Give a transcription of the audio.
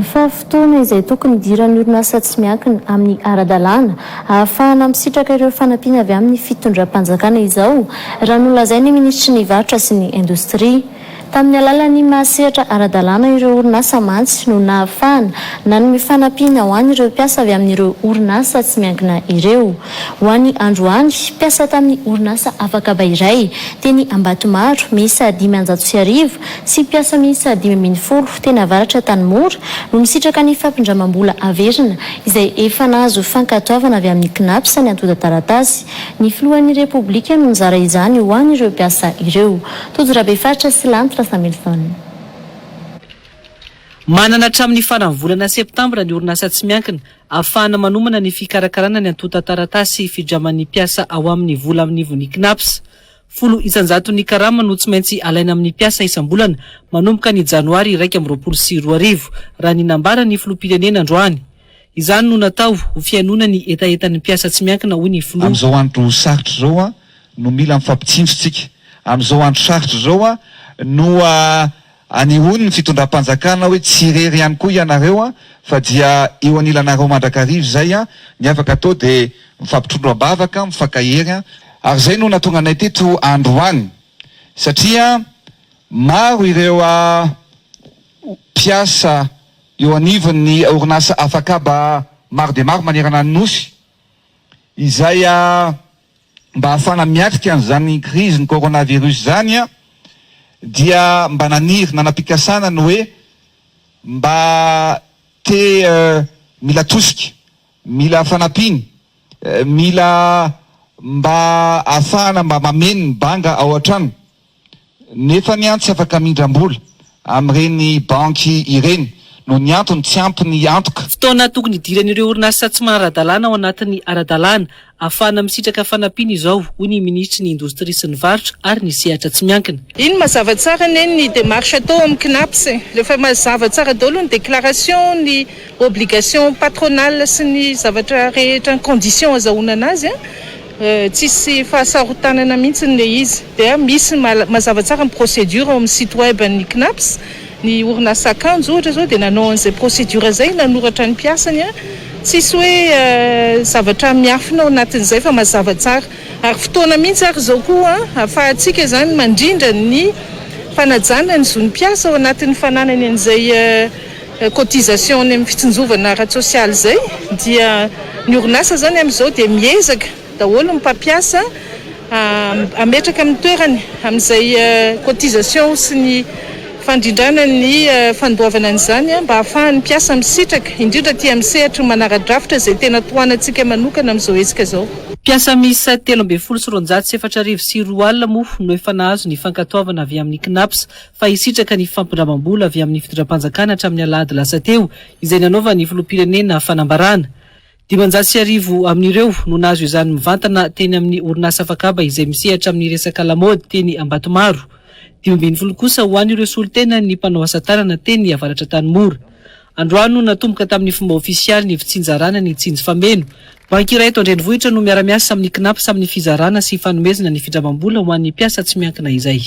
fa fotoana izay tokony hidiran'ny orinasa tsy miankina amin'ny ara-dalàna ahafahana misitraka ireo fanampiana avy amin'ny fitondram-panjakana izao, raha nolazain'ny minisitry ny Varotra sy ny Indostria. Tamin'ny alalan'ny maha-sehatra ara-dalàna ireo orinasa mantsy no nahafahana nanome fanampiana ho an'ireo mpiasa avy amin'ireo orinasa tsy miankina ireo. Ho an'i Androany, mpiasa tamin'ny orinasa Afakaba iray, teny Ambatomaro, miisa dimy anjato sy arivo, sy mpiasa miisa dimy ambin'ny folo teny avaratra Antanimora no misitraka ny fampindramam-bola averina izay efa nahazo fankatoavana avy amin'ny Cnaps ny antontan-taratasy. Ny filohan'ny Repoblika no nizara izany ho an'ireo mpiasa ireo. Tojo Rabefaritra sy Lanitra Samuelson. Manana hatramin'ny faran'ny volana septambra ny orinasa tsy miankina afahana manomana ny fikarakarana ny antontan-taratasy fidraman'ny mpiasa ao aminy vola amin'ivon'ny Cnaps. Folo isan-jaton'ny karama no tsy maintsy alaina amin'ny mpiasa isam-bolana manomboka ny janoary iraika amby roapolo sy roa arivo, raha ny nambaran'ny filoham-pirenena androany. Izany no natao ho fihainoana ny hetahetan'ny mpiasa tsy miankina, hoy ny filoha. Amin'izao andro sarotra izao no mila mifampitsinjo isika. Amin'izao andro sarotra izao no Anehoany ny fitondram-panjakana hoe tsy irery ihany koa ianareo an, fa dia eo anilanareo mandrakariva izay an, ny afaka atao dia mifampitrondro am-bavaka, mifankahery an, ary izay no nahatonga anay teto androany satria maro ireo mpiasa eo anivon'ny orinasa Afakaba maro dia maro manerana ny Nosy izay Mba hahafahana miatrika an'izany krizin'ny coronavirus izany dia mba naniry nanam-pikasana ny hoe mba te mila tosika, mila fanampiana, mila mba hahafahana mba mameno ny banga ao an-trano Nefa ny an tsy afaka mindram-bola amin'ireny banky ireny noho ny antony tsy ampy ny antoka. Fotoana tokony hidiran'ireo orinasa tsy manara-dalàna ao anatin'ny ara-dalàna, ahafahana misitraka fanampiana izao, hoy ny minisitry ny Indostria sy ny Varotra ary ny sehatra tsy miankina. Iny mazava tsara anie ny démarche atao amin'ny Cnaps e! Rehefa mazava tsara daholo ny déclaration, ny obligation patronale sy ny zavatra rehetra, ny conditions azahoana anazy an! Tsisy fahasarotanana mihitsy ilay izy. Dia misy mazava tsara ny procédure ao amin'ny site web an'ny Cnaps. Ny orinasa akanjo ohatra izao dia nanao an'izay procédure izay nanoratra ny mpiasany. Tsisy hoe zavatra miafina ao anatin'izay fa mazava tsara. Ary fotoana mihitsy ary izao koa ahafahantsika izany mandrindra ny fanajana ny zon'ny mpiasa ao anatin'ny fananany an'izay. cotisation any amin'ny fitsinjovana ara-tsosialy izay dia ny orinasa izany amin'izao dia miezaka daholo ny mpampiasa hametraka amin'ny toerany amin'izay cotisation sy ny fandrindrana ny fandoavana an'izany mba hahafahan'ny mpiasa misitraka indrindra aty amin'ny sehatry ny manara-drafitra izay tena tohanantsika manokana amin'izao hetsika izao. Mpiasa miisa telo ambin'ny folo sy roanjato sy efatra arivo sy roa alina moa no efa nahazo ny fankatoavana avy amin'ny Cnaps fa hisitraka ny fampindramam-bola avy amin'ny fitondram-panjakana hatramin'ny alahady lasa teo, izay nanaovan'ny filoham-pirenena fanambarana. Dimanjato sy arivo amin'ireo no nahazo izany mivantana teny amin'ny orinasa Fakaba izay misehatra amin'ny resaka lamaody teny Ambatomaro. Dimy ambin'ny folo kosa ho an'ireo solontenan'ny mpanao asa tanana teny avaratra Antanimora. Androano natomboka tamin'ny fomba ofisialy ny fitsinjarana ny Tsinjo Fameno. Banky iray eto an-drenivohitra no miara-miasa amin'ny Cnaps amin'ny fizarana sy fanomezana ny findramam-bola ho an'ny mpiasa tsy miankina izay.